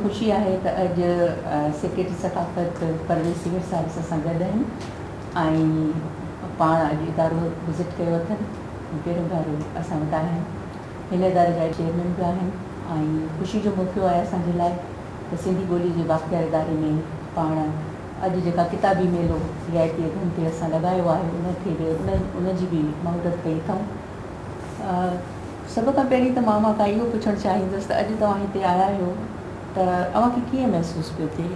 خوشي آهي ته اڄ سيڪريٽري ثقافت پرويز سيوهر صاحب اسان سان گڏ آهن ۽ پاڻ اڄ ادارو وزٽ ڪيو اٿن ۽ پهريون ڀيرو اسان وٽ آيا آهن هن اداري جا چيئرمين به آهن ۽ خوشي جو موقعو آهي اسان جي لاء ته سنڌي ٻولي جي بااختيار اداري ۾ پاڻ اڄ جيڪا ڪتابي ميلو سي آء ٽي ايگن تي اسان لڳايو آهي ان کي به ان جي به مهورت ڪئي اٿئون. سڀ کان پهرين ته مان اوهان کان اهو پڇڻ چاهيندس ته اڄ توهان هتي آيا آهيو ته اوهان کي ڪيئن محسوس پيو ٿئي؟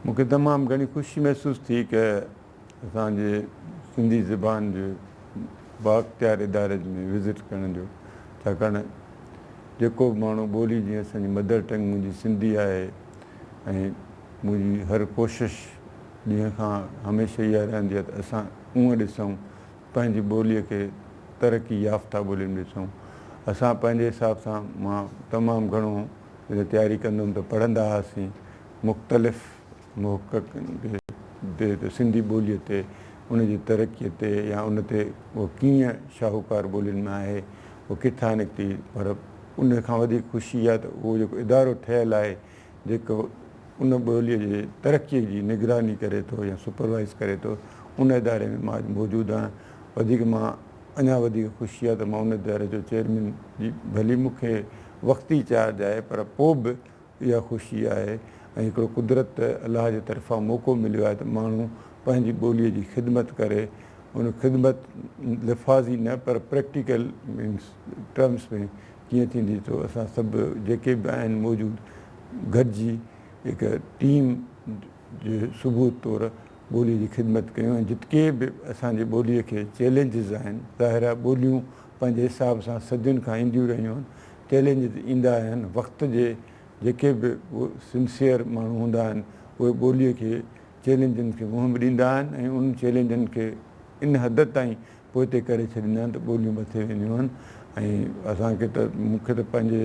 مون کي تمام گهڻي خوشي محسوس ٿي ڪه اسان جي سنڌي زبان جي بااختيار اداري ۾ وزٽ ڪرڻ جو ڇاڪاڻ جيڪو به ماڻهو ٻولي جيئن اسان جي مدر ٽنگ منهنجي سنڌي آهي ۽ منهنجي هر ڪوشش ڏينهن کان هميشه اها رهندي آهي ته اسان اونهن ڏسون پنهنجي ٻولي کي ترقي يافته ٻولي ۾ ڏسون اسان پنهنجي حساب سان مان تمام گهڻو جڏهن تياري ڪندم ته پڙهندا هئاسين مختلف محققن کي ته سنڌي ٻوليء تي، ان جي ترقيء تي يا ان تي اها ڪيئن شاهوڪار ٻولين ۾ آهي، اها ڪٿان نڪتي، پر ان کان وڌيڪ خوشي اها ته اهو جيڪو ادارو ٺهيل آهي، جيڪو ان ٻوليء جي ترقيء جي نگراني ڪري ٿو يا سپروائيز ڪري ٿو، ان اداري ۾ مان اڄ موجود آهيان. وڌيڪ مان اڃا وڌيڪ خوشي اها ته مان ان اداري جو چيئرمين جي ڀلي مون کي وقتي چارج آهي، پر پوء به، اها خوشي آهي ۽ هڪڙو قدرت ته الله جي طرفان موقعو مليو آهي ته ماڻهو پنهنجي ٻوليء جي خدمت ڪري ان خدمت لفاظي نه پر پريڪٽيڪل مينس ٽرمس ۾ ڪيئن ٿيندي ته اسان سڀ جيڪي به آهن موجود گڏجي هڪ ٽيم جي ثبوت طور ٻوليء جي خدمت ڪيون ۽ جتڪي به اسان جي ٻوليء کي چئلينجز آهن ظاهر آهي ٻوليون پنهنجي حساب سان صدين کان اينديون رهيون آهن چئلينجز ايندا آهن وقت جي جيڪي به سنسيئر ماڻهو هوندا آهن اهي ٻولي کي چئلينجن کي منهن به ڏيندا آهن ۽ انهن چئلينجن کي ان حد تائين پوئتي ڪري ڇڏيندا آهن ته ٻوليون مٿي وينديون آهن ۽ اسان کي ته مون کي ته پنهنجي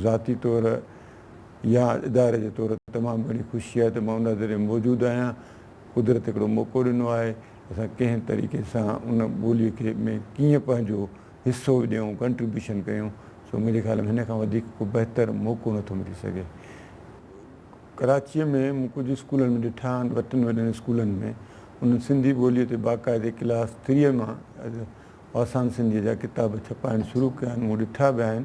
ذاتي طور يا اداري جي طور تمام گهڻي خوشي آهي ته مان ان ذريعي موجود آهيان قدرت هڪڙو موقعو ڏنو آهي اسان ڪنهن طريقي سان ان ٻوليء کي ۾ ڪيئن پنهنجو حصو ڏيون، Contribution، ڪيون، سو منهنجي خيال ۾ هن کان وڌيڪ ڪو بهتر موقعو نه ٿو ملي سگهي. ڪراچيء ۾ مون ڪجهه اسڪولن ۾ ڏٺا آهن، ٻه ٽن وڏن اسڪولن ۾ انهن سنڌي ٻوليء تي باقاعدي ڪلاس ٿريء مان آسان سنڌيء جا ڪتاب ڇپائڻ شروع ڪيا آهن، مون ڏٺا به آهن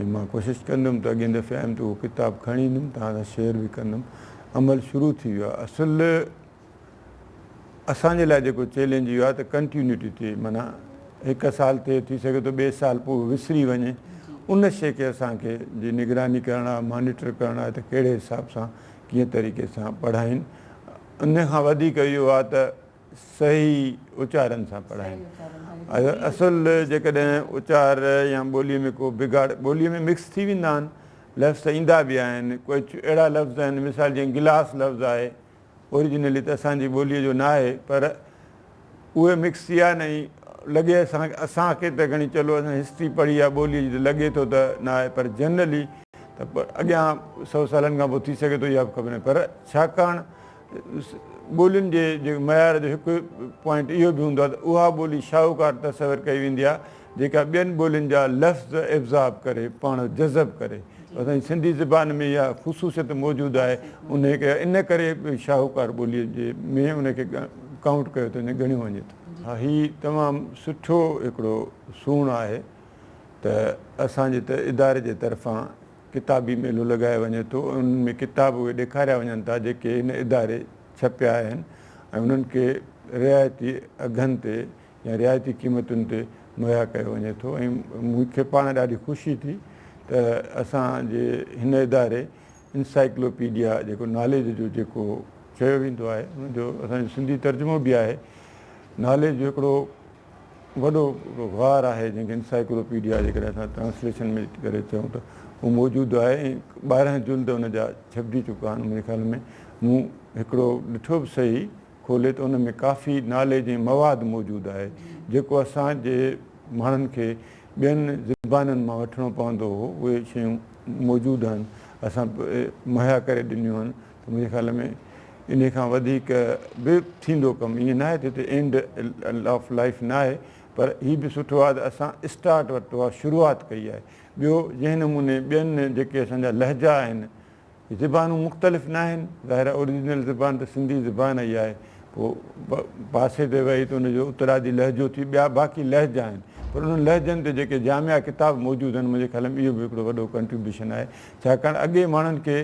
۽ مان ڪوشش ڪندم ته اڳئين دفعي آيم ته اهو ڪتاب کڻي ايندم، توهان سان شيئر به ڪندم. عمل شروع ٿي ويو آهي. اصل. اسان جي لاء جيڪو چئلينج اهو آهي ته ڪنٽيونٽي تي معنيٰ هڪ سال ٿئي ٿي سگهي ٿو ٻئي سال پوء وسري وڃي ان شئي کي اسان کي جي نگراني ڪرڻ آهي مانيٽر ڪرڻ آهي ته ڪهڙي حساب سان ڪيئن طريقي سان پڙهائين ان کان وڌيڪ اهو آهي ته صحيح اچارن سان پڙهائين اصل جيڪڏهن اچار يا ٻولي ۾ ڪو بگاڙ ٻولي ۾ مڪس ٿي ويندا آهن لفظ ايندا به آهن ڪجهه اهڙا لفظ آهن مثال جيئن گلاس لفظ آهي Originally ته اسان جي ٻوليء جو ناهي پر اهي مڪس ٿي آهن ۽ لڳي اسان کي اسان کي ته گهڻي چلو اسان هسٽري پڙهي آهي ٻوليء جي ته لڳي ٿو ته ناهي پر جنرلي ته اڳيان سو سالن کان پوء ٿي سگهي ٿو اها به خبر ناهي پر ڇاڪاڻ ٻولين جي جيڪي معيار جو هڪ پوائنٽ اهو به هوندو آهي ته اها ٻولي شاهوڪار تصور ڪئي ويندي آهي جيڪا ٻين ٻولين جا لفظ ابزاب ڪري پاڻ جذب ڪري اسان جي سنڌي زبان ۾ اها خصوصيت موجود آهي انهي کي ان ڪري شاهوڪار ٻولي جي ۾ ان کي ڪائونٽ ڪيو ٿو وڃي ڳڻيو وڃي ٿو. ها هي تمام سٺو هڪڙو سون آهي ته اسان جي ته اداري جي طرفان ڪتابي ميلو لڳايو وڃي ٿو ۽ انهن ۾ ڪتاب اهي ڏيکاريا وڃن ٿا جيڪي هن اداري ڇپيا آهن ۽ انهن کي رعايتي اگهن تي يا رعايتي قيمتن تي مهيا ڪيو وڃي ٿو ۽ مون کي پاڻ ڏاڍي خوشي ٿي ته اسان جي هن اداري Encyclopedia جيڪو ناليج جو جيڪو چيو ويندو آهي ان جو اسان جو سنڌي ترجمو به آهي ناليج جو هڪڙو وڏو هڪڙو غار آهي جنهن کي Encyclopedia جيڪڏهن اسان ٽرانسليشن ۾ ڪري چئون ته اهو موجود آهي ۽ ٻارهن جلد ان جا ڇپجي چڪا آهن منهنجي خيال ۾ مون هڪڙو ڏٺو به سهي کولي ته ان ۾ ڪافي ناليج ۽ مواد موجود آهي جيڪو اسان جي ماڻهن کي ٻين زبانن مان وٺڻو پوندو هو اهي شيون موجود آهن اسان مهيا ڪري ڏنيون آهن ته منهنجي خيال ۾ انهي کان وڌيڪ به ٿيندو ڪم ائين ناهي ته هتي اينڊ آف لائيف ناهي پر هي به سٺو آهي ته اسان اسٽارٽ ورتو آهي شروعات ڪئي آهي ٻيو جنهن نموني ٻين جيڪي اسان جا لهجا آهن زبانون مختلف ناهن، ظاهر آهي اوريجنل زبان ته سنڌي زبان ئي آهي، پوء پاسي تي ويهي ته ان جو اترادي لهجو ٿي، ٻيا باقي لهجا آهن، پر انهن لهجن تي جيڪي جامع ڪتاب موجود آهن، منهنجي خيال ۾ اهو به هڪڙو وڏو ڪنٽريبيوشن آهي، ڇاڪاڻ اڳي ماڻهن کي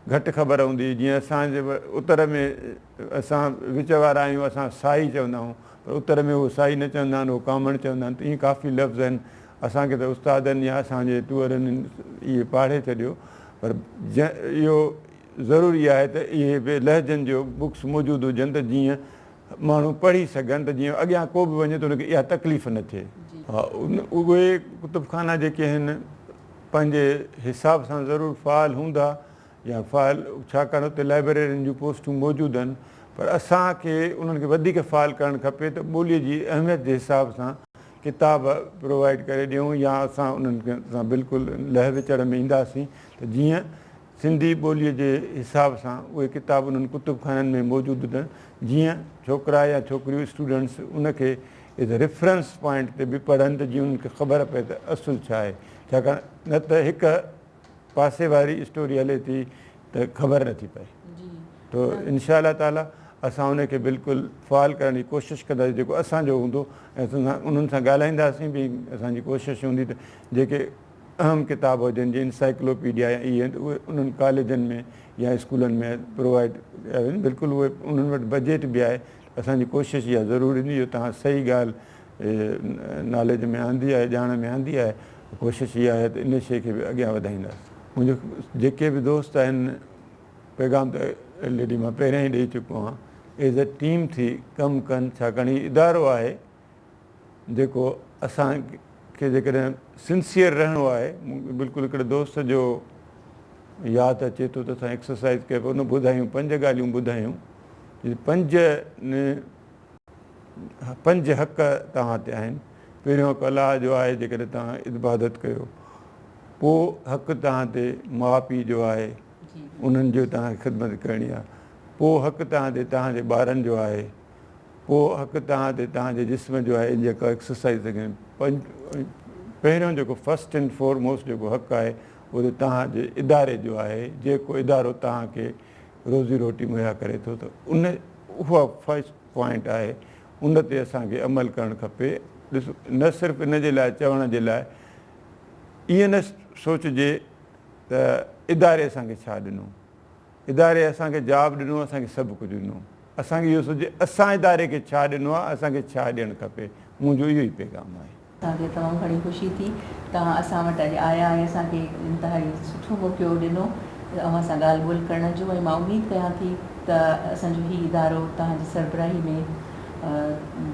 گهٽ خبر هوندي هئي، جيئن اسان جي اتر ۾ اسان وچ وارا آهيون، اسان سائي چوندا آهيون، پر اتر ۾ اهو سائي نه چوندا آهن، اهو ڪامڻ چوندا آهن، ته ائين ڪافي لفظ آهن. اسان کي ته استادن يا اسان جي ٽوئرن اهي پاڙهي ڇڏيو پر اهو ضروري آهي ته اهي به لهجن جو بڪس موجود هجن ته جيئن ماڻهو پڙهي سگهن ته جيئن اڳيان ڪو به وڃي ته ان کي اها تڪليف نه ٿئي. ها اهي ڪتب خانا جيڪي آهن پنهنجي حساب سان ضرور فعال هوندا يا فعال ڇاڪاڻ اتي لائبريرين جون پوسٽون موجود آهن پر اسان کي انهن کي وڌيڪ فعال ڪرڻ کپي ته ٻولي جي اهميت جي حساب سان ڪتاب پرووائيڊ ڪري ڏيون يا اسان انهن سان بلڪل لهه وچڙ ۾ اينداسين ته جيئن سنڌي ٻولي جي حساب سان اهي ڪتاب انهن ڪتب خانن ۾ موجود هجن جيئن ڇوڪرا يا ڇوڪريون اسٽوڊنٽس ان کي ايز ريفرنس پوائنٽ تي به پڙهن ته جيئن انهن کي خبر پئي ته اصل ڇا آهي ڇاڪاڻ نه ته هڪ پاسي واري اسٽوري هلي ٿي ته خبر نٿي پئي تو انشاء الله تعالي اسان ان کي بلڪل فعال ڪرڻ جي ڪوشش ڪنداسين جيڪو اسان جو هوندو ۽ انهن سان ڳالهائينداسين به اسان جي ڪوشش هوندي ته جيڪي اهم ڪتاب هجن جي انسائيڪلوپيڊيا يا اهي آهن اهي انهن ڪاليجن ۾ يا اسڪولن ۾ پرووائيڊ ڪيا وڃن بلڪل اهي انهن وٽ بجيٽ به آهي اسان جي ڪوشش اها ضرور هوندي جو توهان صحيح ڳالهه ناليج ۾ آندي آهي ڄاڻ ۾ آندي آهي ڪوشش اها آهي ته ان شيء کي به اڳيان وڌائينداسين منهنجو جيڪي به دوست آهن پيغام ته الريڊي مان پهريان ئي ڏئي چڪو آهيان ايز اي ٽيم ٿي ڪم ڪن ڇاڪاڻ هي ادارو آهي جيڪو اسان کي جيڪڏهن سنسيئر رهڻو آهي بلڪل هڪڙي دوست جو ياد اچي ٿو ته اسان ايڪسرسائز ڪئي پئي ان ٻڌايون پنج ڳالهيون ٻڌايون پنج پنج حق توهان تي آهن. پهريون حق الله جو آهي جيڪڏهن توهان عبادت ڪيو. پوء حق توهان تي ماء پيء جو آهي انهن جو توهان کي خدمت ڪرڻي آهي. پوء حق توهان تي توهان جي ٻارن جو آهي. پوء حق توهان تي توهان جي جسم جو آهي جيڪو ايڪسرسائيز ٿي ڪري. پهريون جيڪو فرسٽ اينڊ فور موسٽ جيڪو حق آهي اهو ته توهان جي اداري جو آهي جيڪو ادارو توهان کي روزي روٽي مهيا ڪري ٿو ته ان اها فرسٽ پوائنٽ آهي ان تي اسان کي عمل ڪرڻ کپي ڏس نه صرف ان جي لاء چوڻ جي لاء ائين نه سوچجي ته اداري اسان کي ڇا ڏنو اداري اسان کي جاب ڏنو اسان کي سڀ ڪجهه ڏنو اسان کي اهو سوچجي اسان اداري کي ڇا ڏنو آهي اسان کي ڇا ڏيڻ کپي منهنجو اهو ئي پيغام آهي. اسان کي تمام گهڻي خوشي ٿي توهان اسان وٽ اڄ آيا ۽ اسان کي هڪ انتهائي سٺو موقعو ڏنو اوهان سان ڳالهه ٻولهه ڪرڻ جو ۽ مان اميد ڪيان ٿي ته اسان جو هي ادارو توهان جي سربراهي ۾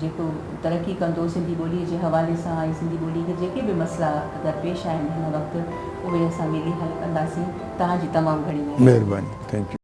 جيڪو ترقي ڪندو سنڌي ٻولي جي حوالي سان ۽ سنڌي ٻولي کي جيڪي به مسئلا در پيش آهن هن وقت اهي اسان ملي حل ڪنداسين توهان جي تمام گهڻي مهرباني. Thank you.